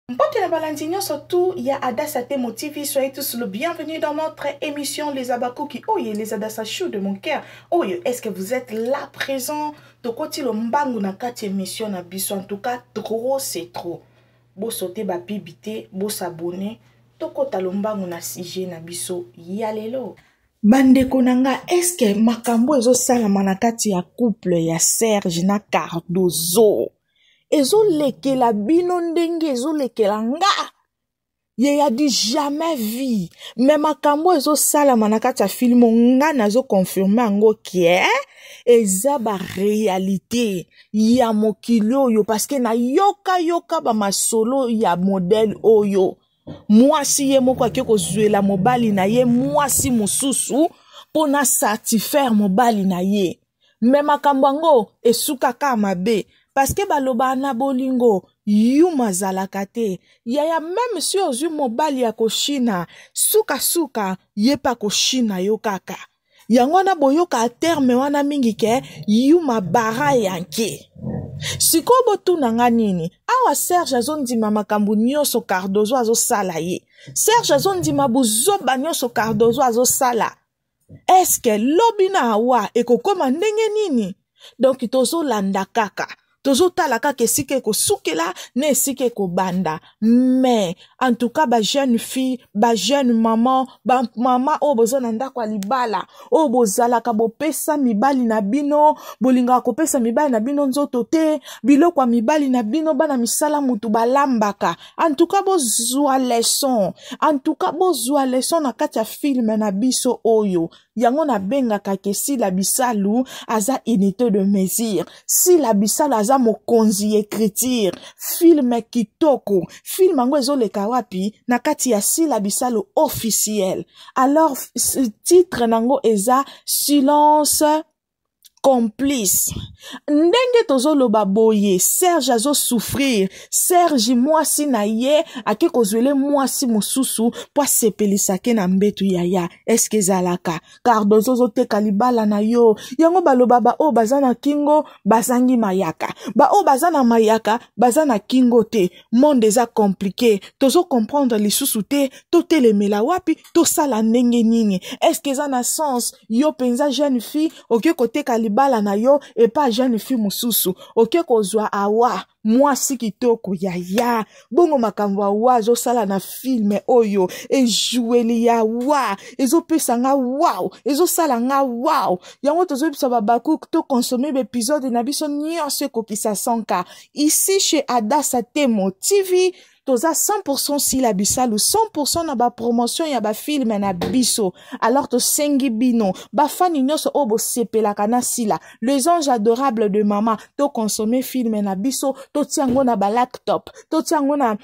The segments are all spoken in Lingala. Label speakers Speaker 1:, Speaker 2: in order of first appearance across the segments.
Speaker 1: Mbote na balandi nyonso tout ya Adassa Temo TV, soyez tous le bienvenue dans notre émission Les Abakuki. Oye, les Adassa Chou de mon cœur. Oye, est-ce que vous êtes là présent? Tokoti lo mbangu na kati émission na biso. En tout cas, trop c'est trop. Bo sauter ba pibité, bo s'abonner. Tokota lo mbangu na sujet na biso. Yalelo. bandeko na nga eske makambo ezosalama na kati ya couple ya serge na cardozo ezolekela bino ndenge ezolekela nga ye ya du jamais vie me makambo ezosalama na kati ya filme nga nazoconfirme yango kie eza barealité ya mokili oyo parceke nayokayoka bamasolo ya modele oyo mwasi ye moko ake kozwela mobali na ye mwasi mosusu mpo na satisfaire mobali na ye me makambo yango esukaka mabe parceke balobaka na bolingo yuma azalaka te yaya meme si ozwi mobali ya koshina sukasuka ye mpe akoshina yo kaka yango wana boyoka terme wana mingi ke yuma bara yanke sikoyo botuna nga nini awa serge azondima makambo nyonso cardozo azosala ye serge azondima buzoba nyonso cardozo azosala eske lobi na awa ekokoma ndenge nini donk tozolanda kaka tozotala kaka esika ekosukela na esika ekobanda mais en tout cas bajeune fille bajeune maman bamama oyo boza na ndako ya libala oyo bozalaka bopesa mibali na bino bolingaka kopesa mibali na bino nzoto te biloko ya mibali na bino bana misala mutu balambaka en tout cas bozwa leçon en tout cas bozwa leçon na kati ya filme na biso oyo yango nabengaka ke sila bisalu aza unité de mesure sila bisalu aza mokonzi ya écriture filme kitoko filme yango ezoleka wapi na kati ya sila bisalu officiel alors titre na yango eza silence complice ndenge tozoloba boye serge azosouffrir serge mwasi na ye ake kozwele mwasi mosusu mpo asepelisake na mbetu yaya eske ezalaka cardozo ozoteka libala na yo yango baloba baoyo baza na kingo bazangi mayaka baoyo baza na mayaka baza na kingo te monde eza komplike tozokomprendre lisusu te totelemela wapi tosala ndenge nini eske eza na sens yo mpenza jeune fille oke koteka libala na yo epa jeune fille mosusu oke kozwa awa mwasi kitoko yaya bongo makambo awa azosala na filme oyo ejueli ya wa ezopesa nga wao ezosala nga wao yango tozoyebisa babakuk tokonsome baepizode na biso nyonso ekokisa 100 ka ici chez adasa temo tv toza 100% sila bisalu 100% na bapromotion ya bafilme na biso alors tosengi bino bafani nyonso oyo bosepelaka na sila les anges adorables de mama toconsomme filme na biso totia yango na balaptop totia yango na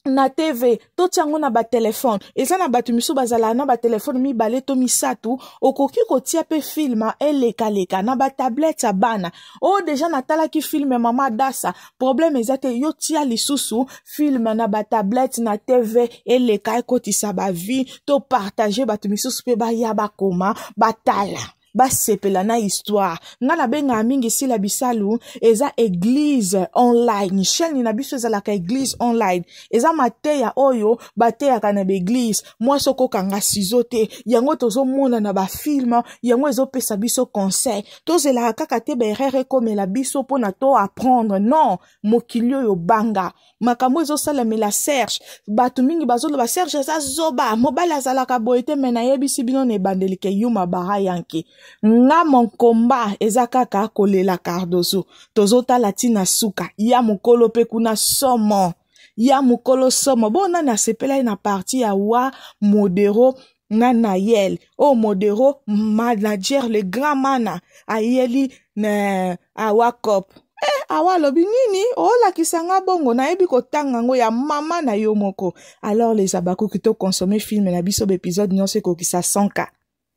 Speaker 1: na tv totya yango na batelefone eza na bato misusu bazalaka na batelefone mibale to misato okoki kotia mpe filme elekaleka na batablete ya bana oyo oh, deja natalaki filme mama dasa problème eza te yo tia lisusu film na batablette na tv eleka ekotisa bavie to partage bato misusu mpe baya bakoma batala basepela na histoire nga nabengaka mingi sila bisalu eza eglise online chaîne na biso ezalaka eglise online eza mateya oyo bateyaka na baeglise mwasi okokanga sizo te yango tozomona na bafilme yango ezopesa biso conseil tozelaka kaka te baerreur ekomela biso mpo na to apprendre non mokili oyo banga makambo ezosalamela serge bato mingi bazoloba serge aza zoba mobali azalaka boye te me nayebisi bino na ebandeli ke yuma bara yanke nga monkomba eza kaka kolela cardozo tozotala ntina suka ya mokolo mpe kuna somo ya mokolo somo bo nani asepelaki na parti ya wa modero na nayel oyo oh, modero manager le grand mana ayeli na awakop e eh, awa alobi nini olakisa nga bongo nayebi kotanga yango ya mama na yo moko alors les abakuki to consommer film na biso baepisode nyonso ekokisa 100 ka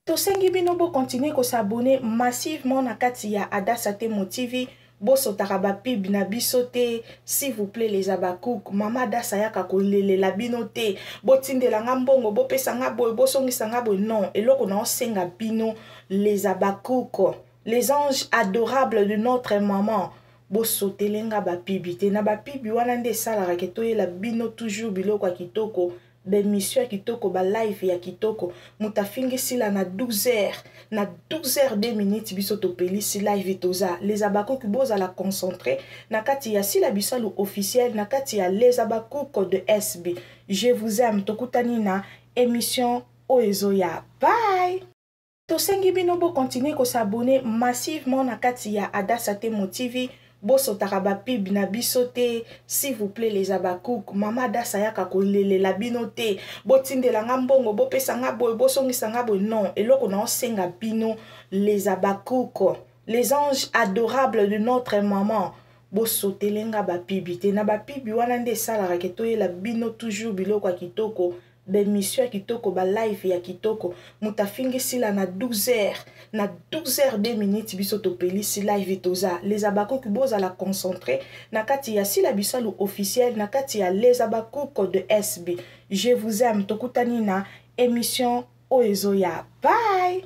Speaker 1: Tosengi bino bo continuer ko s'abonner massivement na kati ya Adassa Temo TV. Bosotaka ba pub na biso te s'il vous plaît les Habacuc. Mama Adassa yaka kolelela bino te. Botindela nga mbongo, bopesa nga boye, bosongisa nga boye. Non, eloko na osenga bino les Habacuc, les anges adorables de notre maman. Bosotele nga ba pub te. Na ba pub wana nde esalaka ke toyela bino toujours biloko ya kitoko. ba emission ya kitoko ba live ya kitoko moto afingi sila na 12 heures na 12 heures 2 minutes biso topelisi live toza les abakuki bozala concentre na kati ya sila bisalu officiel na kati ya les abakuki de sb je vous aime tokutani na émission oyo ezoya bye Tosengi bino bo continuer ko s'abonner massivement na kati ya Adassa Temo TV bosotaka ba pub na biso te s'il vous plaît les abakouk mama Adassa yaka kolelela bino te botindela nga mbongo bopesa nga boye bosongisa nga boye non eloko na osenga bino les abakouk les anges adorables de notre maman bosotele nga bapibi te na bapibi wana nde esalaka ke toyela bino toujours biloko ya kitoko ba emission ya kitoko ba live ya kitoko moto afingi sila na 12 heures na 12 heures 2 minutes biso topelisi live toza les abakuki bozala concentre na kati ya sila bisalu officiel na kati ya les abakuki de sb je vous aime tokutani na emission oyo ezoya bye